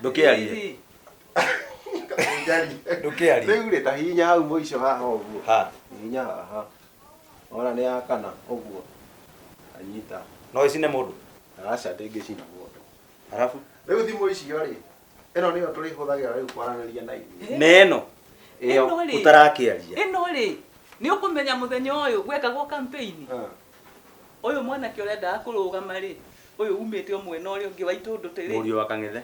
Ndũkĩarie. Ndũkĩarie. Rĩu rĩ ta hinya hau mũico haha ũguo. Ha. Hinya haha. Ona nĩ ya kana ũguo. Anyita. No ĩcine mũndũ? Aca ndĩngĩcina mũndũ. Arabu? Rĩu thimũ icio rĩ, ĩno nĩyo tũrĩhũthagĩra rĩu kwaranĩria na ithuĩ. Na ĩno? Ĩyo ũtarakĩaria. Ĩno rĩ, nĩ ũkũmenya mũthenya ũyũ gwekagwo campaign. Ũyũ mwanake ũrendaga kũrũgama-rĩ, ũyũ umĩte o mwena ũrĩa ũngĩ wa Itũndũtĩ-rĩ. Mũriũ wa Kang'ethe.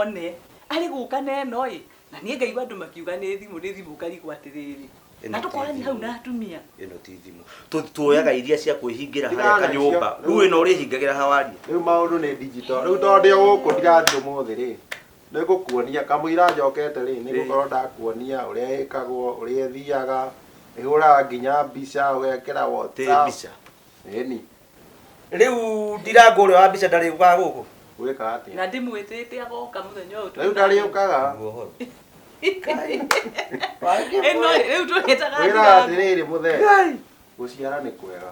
One. Arĩ gũka na ĩno-ĩ, na niĩ ngaigua andũ makiuga nĩ thimũ, nĩ thimũ ngarigwo atĩrĩrĩ. Na tũkoranie hau na atumia. Ĩno ti thimũ. Tuoyaga iria cia kwĩhingĩra harĩa kanyũmba. Rĩu ĩno ũrĩhingagĩra ha warie? Rĩu maũndũ nĩ digital. Rĩu tondũ ndĩ o gũkũ ndirathiĩ ũmũthĩ-rĩ, Nĩ ngũkuonia. Kamũira njokete rĩ, nĩ ngũkorwo ndakuonia ũrĩa ĩkagwo, ũrĩa ĩthiaga, ĩhũraga nginya mbica, ũgekĩra WhatsApp. Ĩni. Rĩu ndirangũ ũrĩa wa mbica ndarĩũkaga gũkũ? Gwĩka atĩa? Na ndĩmwĩtĩte agoka mũthenya ũyũ twĩ Rĩu nake. ndarĩũkaga? Nĩguo ũhoro. Ĩno rĩ, rĩu tũrĩtaga Wĩra thigari. atĩrĩrĩ mũthee, Ngai! gũciara nĩ kwega.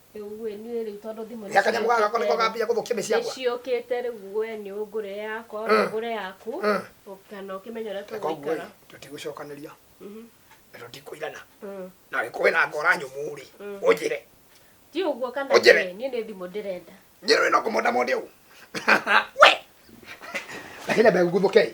rĩu ĩ niĩ rĩu tondũ thimũ nĩ gakanyamå gaka gakwa nĩko gambia gå thå kia mä ciakwa ciũkĩte rĩu we nĩ ũngũre yakwa Mm. ona ngũre yaku Mm. kana ũkĩmenya ũrĩa na koguo tũgũikara tå tigå cokanä ria Mhm. na tå tikå irana Mm. na gä kå wä na ngora nyå må rä Mm. å njä re ti ũguo kana Ũnjĩre. ĩ, niĩ nĩ thimũ ndĩrenda nyä rä no kå monda monde å we lakini ameguthå ke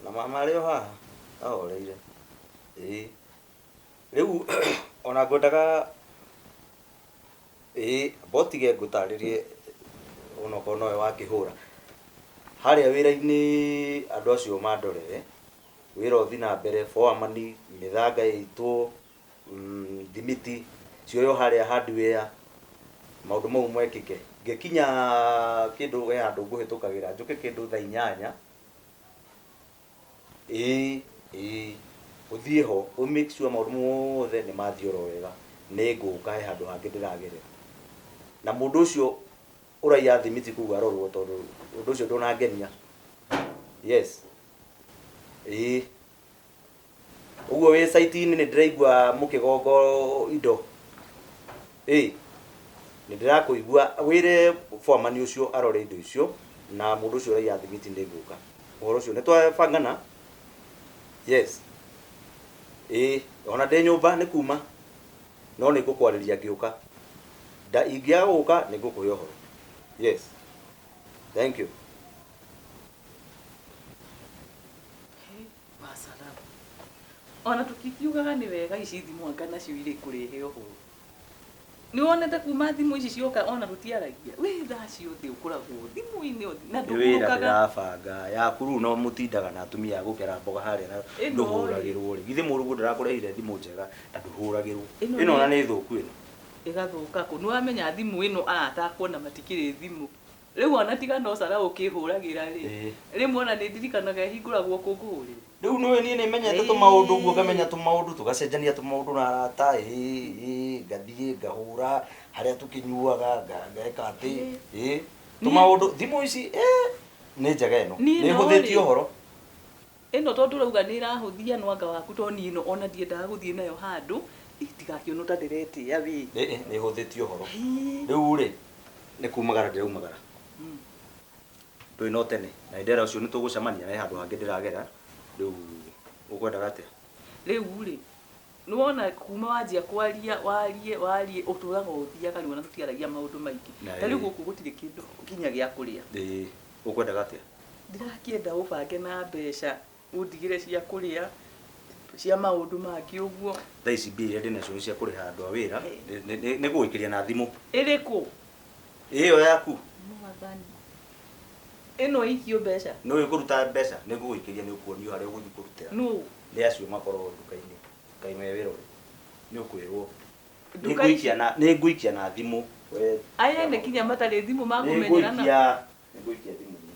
Ona mama arĩ o haha ahoreire. Ĩĩ. Rĩu ona ngwendaga ĩĩ amba ũtige ngũtarĩrie ona okorwo nowe wakĩhũra. Harĩa wĩra-inĩ andũ acio mandorere, wĩra ũthi na mbere, boremani, mĩthanga ĩitwo, thimiti cioywo harĩa hardware, maũndũ mau mekĩke. Ngĩkinya kĩndũ he handũ ngũhĩtũkagĩra, njũke kĩndũ thaa inyanya. ĩĩ ĩĩ ũthiĩ ho ũ make sure maũndũ mothe nĩ mathiĩ oro wega nĩ ngũka he handũ hangĩ ndĩragerera na mũndũ ũcio ũraiya thimiti kũu arorwo tondũ ũndũ ũcio ndũnangenia yes ĩĩ Ũguo wĩ site inĩ nĩndĩraigua mũkĩgongo indo ĩ nĩndĩrakũigua wĩre foreman ũcio arore indo icio na mũndũ ũcio ũraiya thimiti nĩngũka ũhoro ũcio nĩtwabangana yes ĩ ona ndĩ nyũmba nĩ kuma no nĩngũkwarĩria ngĩũka nda ingĩaga gũka nĩngũkũhe ũhoro yes thank you. Wasalamu. Ona tũkikiugaga nĩ wega ici thimũ anga nacio irĩ kũrehe ũhoro. Nĩ wonete kuma thimũ ici cioka ona tũtiaragia. Wĩ thaa ciothe ũkoragwo thimũ-inĩ o thi- na nĩ wĩra ndũhurũkaga. ndĩrabanga yaku rĩu no mũtindaga na atumia a gũkera mboga harĩa na Ĩno-rĩ. ndũhũragĩrwo rĩ githĩ mũrungu ndarakũrehire thimũ njega na ndũhũragĩrwo Ĩno ĩno ona nĩ- nĩ thũku ĩno Ĩgathũka kũ? Nĩ wamenya thimũ ĩno aya atakuona matikĩrĩ thimũ. Rĩu ona tiga no Sarah ũkĩhũragĩra rĩ, rĩmwe ona nĩ ndirikanaga ehingũragwo kũngũhũrĩra. Rĩu nĩũĩ niĩ nĩ menyete tũmaũndũ ũguo ngamenya tũmaũndũ tũgacenjania tũmaũndũ na arata ĩĩ ĩĩ ngathiĩ ngahũra harĩa tũkĩnyuaga ngeka atĩ ĩĩ tũmaũndũ thimũ ici ĩĩ nĩ njega ĩno nĩ ĩhũthĩtie ũhoro. Ĩno tondũ ũrauga nĩ ĩrahũthia nwanga waku tondũ niĩ ĩno ona ndiendaga gũthiĩ nayo handũ, ĩ ndigakĩonwo ta ndĩretĩa wĩ. Ĩ ĩ nĩ ĩhũthĩtie ũhoro. Rĩu rĩ, nĩ kumagara ndĩraumagara. Ndũĩ no tene na nĩ ndera ũcio nĩ tũgũcemania he handũ hangĩ ndĩragera, rĩu ũkwendaga atĩa? Rĩu rĩ, Nĩwona kuma wanjia kwaria warie warie ũtũraga ũthiaga nĩwona tũtiaragia maũndũ maingĩ. Na Tarĩu ĩ. gũkũ gũtirĩ kĩndũ nginya gĩa kũrĩa. Ĩĩ. Ũkwendaga atĩa? Ndirakĩenda ũbange na mbeca ũndigĩre cia kũrĩa cia maũndũ mangĩ ũguo. Thaa ici mbia iria ndĩnacio nĩ cia kũrĩha andũ a wĩra. Nĩ nĩ nĩ nĩngũgũikĩria na thimũ. Ĩrĩkũ? Ĩyo yaku. Mwathani. Ĩno ĩikio mbeca. Nĩ ũyũ kũruta mbeca nĩ ngũgũikĩria nĩ ũkuonio harĩa ũgũthiĩ kũrutĩra. Nũ? Nĩ acio makoragwo nduka-inĩ. Kaĩ me wĩra ũrĩkũ? Nĩ ũkwĩrwo. Nĩ ngũikia na nĩ ngũikia na thimũ. We. Aya ene kinya matarĩ thimũ Nĩ makũmenyerana. ngũikia. Nĩ ngũikia thimũ-inĩ.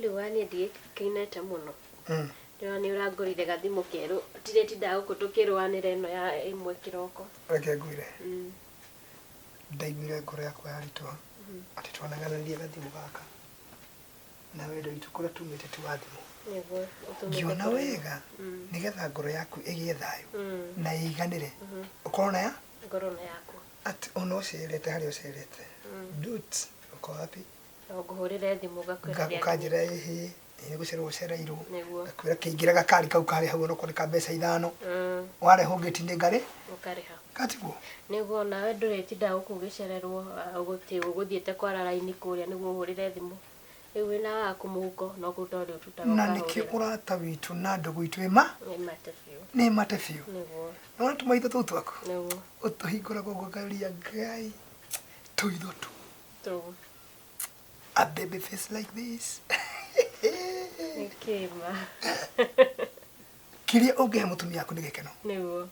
Rĩu wa niĩ ndiĩkainete mũno. Ndĩrona nĩ ũrangũrire gathimũ kerũ. Ndĩretindaga gũkũ tũkĩrũanĩra ĩno ya ĩmwe kĩroko. Reke ngwĩre. Mm. Ndaiguire ngoro yakwa yaritũha atĩ twanagananirie gathimũ gaka na wendo witũ kũrĩa tumĩte ti wa thimũ. Ngiona wega nĩgetha ngoro yaku ĩgĩe thayũ na ĩiganĩre ũkorwo na ya ngoro na yaku atĩ ona ũcerete harĩa ũcerete dut uko wapi na ngũhũrĩre thimũ ngakwĩra ndĩ hakuhĩ. ũkanjĩra ĩhĩ Eh, gũcerwo ũcereirwo Nĩguo. gakwĩra kĩingĩre gakari kau karĩ hau onokorwo nĩ ka mbeca ithano Mm, warehwo ngĩti-inĩ ngarĩ ũkarĩha gatigwo nĩguo nawe ndũretinda gũkũ ũgĩcererwo ah, gũtĩ ũgũthiĩte kwara raini kũrĩa nĩguo ũhũrĩre thimũ rĩu wĩna waku mũhuko no kũruta ũrĩa ũtutaga na nĩkĩo ũkahũrĩra ũrata witũ na ndũgũ itũ ĩma nĩ mate biũ nĩ mate biũ nĩguo nona tũmaitho tũu twaku nĩguo ũtũhingũraga ũngũgaria ngai tũitho tũ tũu a baby face like this Kĩma. kiria ũngĩhe mũtumia waku nĩ gĩkeno Nĩguo.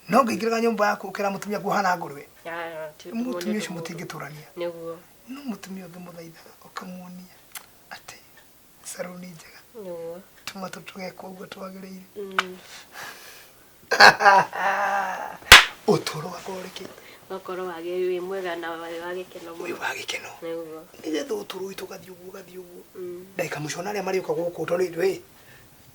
no ngĩingĩraga nyũmba yaku ũkĩra mũtumia waku hana ngũrwe Ah, ti mũndũ mũtumia ũcio mũndũ. mũtingĩtũrania Nĩguo. no mũtumia ũngĩmũthaitha ũkamuonia atĩ saruni njega Nĩguo. tũmatũ tũgekwo ũguo twagĩrĩire Mm. ũtũro wakwa ũrĩ kĩ Ũgakorwo wage wĩ mwega na wĩ wa gĩkeno wĩ mũno. wa gĩkeno Nĩguo. nĩgetha ũtũrũi tũgathiĩ ũguo ũgathiĩ ũguo Mm. ndagĩka mũico na arĩa marĩũka gũkũ tondũ rĩrĩ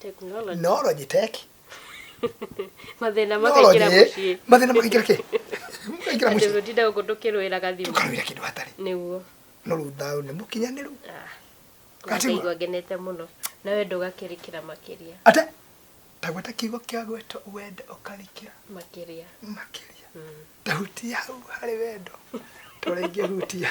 Technology. Nology tech. Mathĩna Nology, makaingĩra eh? mũciĩ. Mathĩna makaingĩra kĩ? Makaingĩra Andũ mũciĩ. gũtinda gũkũ tũkĩrũĩra gathimũ. Tũkarũĩra kĩndũ hatarĩ. Nĩguo. No rĩu thayũ nĩ mũkinyanĩru. Ah. Gatima. Ngaigua ngenete mũno. Na we ndũgakĩrĩkĩra makĩria. Ate? Tagweta kiugo kĩa gweta wende ũkarikĩra Makĩria. makĩria. Mm. Tahutia hau harĩ wendo. Tũrĩngĩ hutia.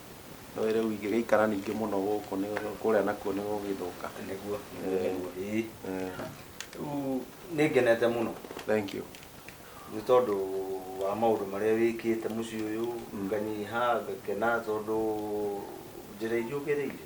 Nĩũĩ rĩu ingĩgĩikara ningĩ mũno gũkũ nĩ kũrĩa nakuo nĩ gũgĩthũka. Nĩguo, nĩguo, Eh. nĩguo, ĩĩ. Eh, Rĩu nĩ ngenete mũno Thank you. nĩ tondũ wa maũndũ marĩa wĩkĩte mũciĩ ũyũ, nganyiha, ngakena tondũ njĩra iria ũgereire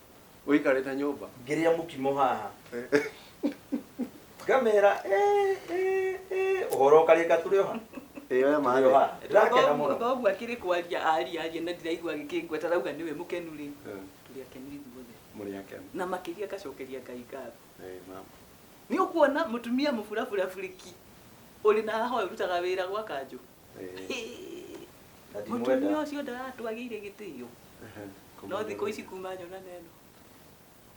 ũikarĩte nyũmba ngĩrĩa mũkimo haha ngamera "Eh, eh, eh, ũhoro ũkarĩka tũrĩ oha ĩyo ya maĩ Tũrĩ oha ndĩrakena mũno thoguo akĩrĩ kwaria aria aria na ndiraigua agĩkĩngua tarauga nĩwe mũkenu rĩ tũrĩ akenu ithuothe mũrĩ akenu na makĩria ngacokeria ngai ngatho Eh, mama nĩ ũkuona mũtumia mũburabura burĩki ũrĩ na haha ũyũ ũrutaga wĩra gwa kanjũ Mũtumia ũcio ndaratwagĩire gĩtĩo. No thikũ ici kuma nyona na ĩno.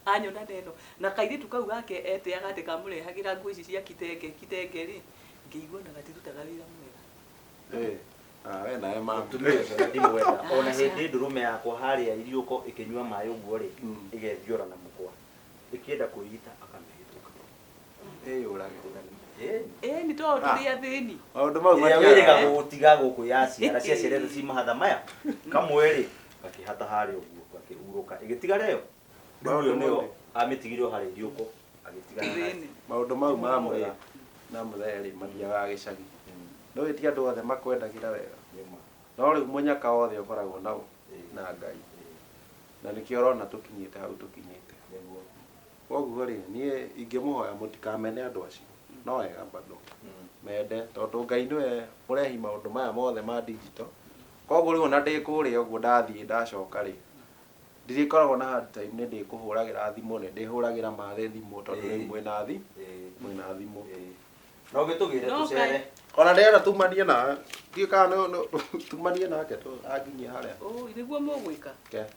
Anyona na ĩno. Na kairĩtu kau gake eteaga atĩ kamũrehagĩra nguo ici cia kitenge kitenge rĩ, ngĩigua ona gatirutaga wĩra mwega. Ĩĩ. Ah, we nawe mama. Mũtumia ũcio na ndimwenda. Ona hĩndĩ ndũrũme yakwa harĩa iriũko ĩkĩnyua maĩ ũguo rĩ, ĩgethiora na mũkwa. Ĩkĩenda kwĩita akamĩhĩtũka. ĩni to tũrĩ athĩni maũndũ mau ĩrĩa matiaga- wĩrĩga gũgũtiga gũkũ yaciara ciaciarĩte ci mahatha maya kamwe-rĩ gakĩhata harĩ ũguo gakĩhurũka ĩgĩtiga rĩo rĩu ũyũ nĩyo amĩtigire o harĩa iriũko agĩtiga na thĩni maũndũ mau ma mũrĩa na mũthee rĩ mathiaga gĩcagi no ĩti andũ othe makwendagĩra wega nĩma no rĩu mũnyaka wothe ũkoragwo nao na ngai na nĩkĩo ũrona tũkinyĩte hau tũkinyĩte nĩguo Koguo rĩ, niĩ ingĩmũhoya mũtikamene andũ acio. No wega bado. Mende. Tondũ Ngai nĩwe mũrehi maũndũ maya mothe ma digital. Koguo rĩu ona ndĩ kũrĩa ũguo ndathiĩ ndacoka rĩ, ndirĩkoragwo na hard time nĩ ndĩkũhũragĩra thimũ, nĩ ndĩhũragĩra mathe thimũ tondũ rĩu mwĩna thi, mwĩna thimũ. No ũgĩtũgĩre No tũcere. Ngai. Ona ndĩrenda tumanie nawe. Ndiũĩ kana no no tumanie nake tũ anginyia harĩa. Ũũi, nĩguo mũgwĩka? Ke.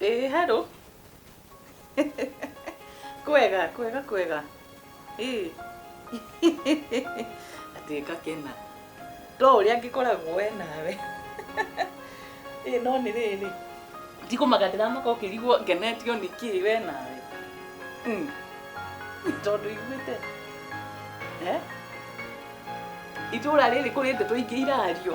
Ĩĩ hello. Kwega, kwega, kwega. Ĩĩ. Atĩ ngakena. To ũrĩa ngĩkoragwo we nawe. Ĩĩ no nĩ rĩrĩ. Ndikũmaga ndĩramaka ũkĩrigwo ngenetio nĩ kĩĩ we nawe. Mm. Tondũ iguĩte. Eh? Itũũra rĩrĩ kũrĩ ndeto ingĩ irario.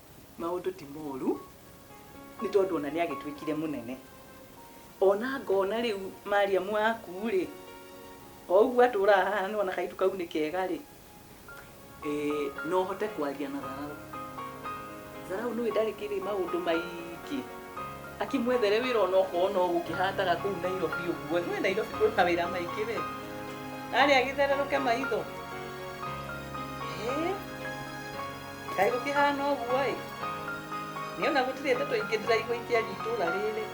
Maũndũ ti moru nĩ tondũ ona nĩ agĩtuĩkire mũnene. Ona ngona rĩu Mariamu waku rĩ, o ũguo atũraga haha nĩ wona kaitu kau nĩ kega rĩ, eh, no hote kwaria na Tharau. Tharau nĩ ndarĩ kĩrĩ maũndũ maingĩ akĩmwethere wĩra ona okorwo no gũkĩhataga kũu Nairobi ũguo. Nĩ ũĩ Nairobi kwĩ mawĩra maingĩ we. Arĩa agĩthererũke maitho. Eh. Kaĩ gũkĩhana ũguo-ĩ! Nĩona gũtirĩ ndeto ingĩ ndĩraigua ikĩaria itũũra rĩrĩ.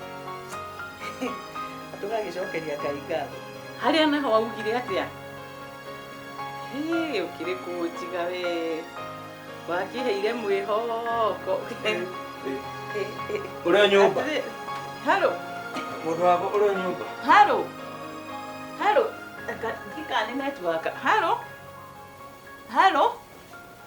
Na tũgagĩcokeria Ngai ngatho. Harĩa naho waugire atĩa? Hĩĩ, ũkĩrĩ kũnjiga wee. Wakĩheire mwĩhoko. Ũrĩ o nyũmba? Atĩrĩ- Haro, Mũndũ wakwa ũrĩ o nyũmba? haro, haro. Aka- Ndiũĩ kana nĩ netiwaka. Haro, haro.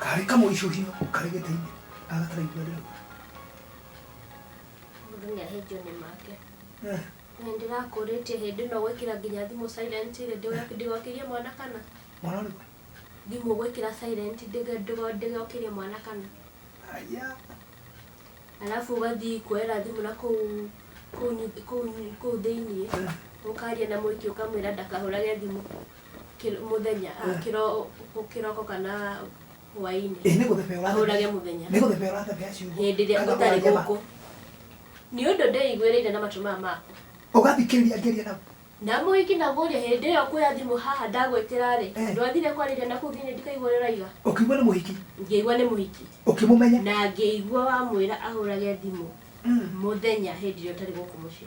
karä kamå icuhio karä gä tä-inä agataraigua rä Mũndũ nĩ ahĩnjio nĩ make. Eh. Nĩ ndĩrakũrĩtie hĩndĩ ĩno gwĩkĩra nginya thimũ silent rĩ, ndĩgo- ndĩgokĩrie mwana kana? mwana rä Thimũ gwĩkĩra silent ndĩgo- ndĩgo- ndĩgokĩrie mwana kana? aya Arabu ũgathiĩ kuoera thimũ na kũu kũu nyu- kũu nyu- kũu thĩiniĩ, ũkaria na mũiki ũkamwĩra ndakahũrage thimũ. kĩro- mũthenya ah, Eh. kĩro- kĩroko kana hwainĩ ĩ nĩ gũthebea ũrathebea Ahũrage mũthenya. nĩ gũthebea ũrathebea ciugo hĩndĩ ĩrĩa Kana ũtarĩ ũratheba. gũkũ nĩ ũndũ ndeiguĩrĩire na matũ maya maku ũgathikĩrĩria ngeria na na mũiki na mũria hĩndĩ ĩyo kuoya thimũ haha ndagwĩtĩra-rĩ Eh. ndwathire kwarĩria naku thĩinĩ ndikaigua ũrĩa ũraiga ũkiumwa nĩ mũhiki ngĩigua nĩ mũhiki ũkĩmũmenya na ngĩigua wamwĩra ahũrage thimũ Mm. mũthenya hĩndĩ ĩrĩa ũtarĩ gũkũ mũciĩ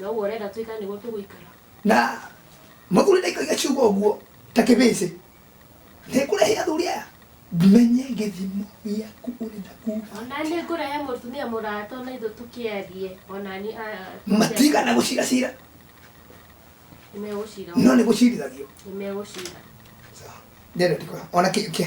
Na ũguo ũrenda twĩkane nĩguo tũgũikara na mũthuri ndaikagia ciugo ũguo ta kĩbĩcĩ nĩ kũrehe athuri aya menye gĩthimo gĩaku ũrĩ na kuga ona nĩ ngũrehe mũtumia mũrata ona ithu tũkĩarie ona ni matigana gũcira cira nimegũcira no nĩ gũcirithagio nimegũcira Sawa. ndĩrendikora ona kĩngĩ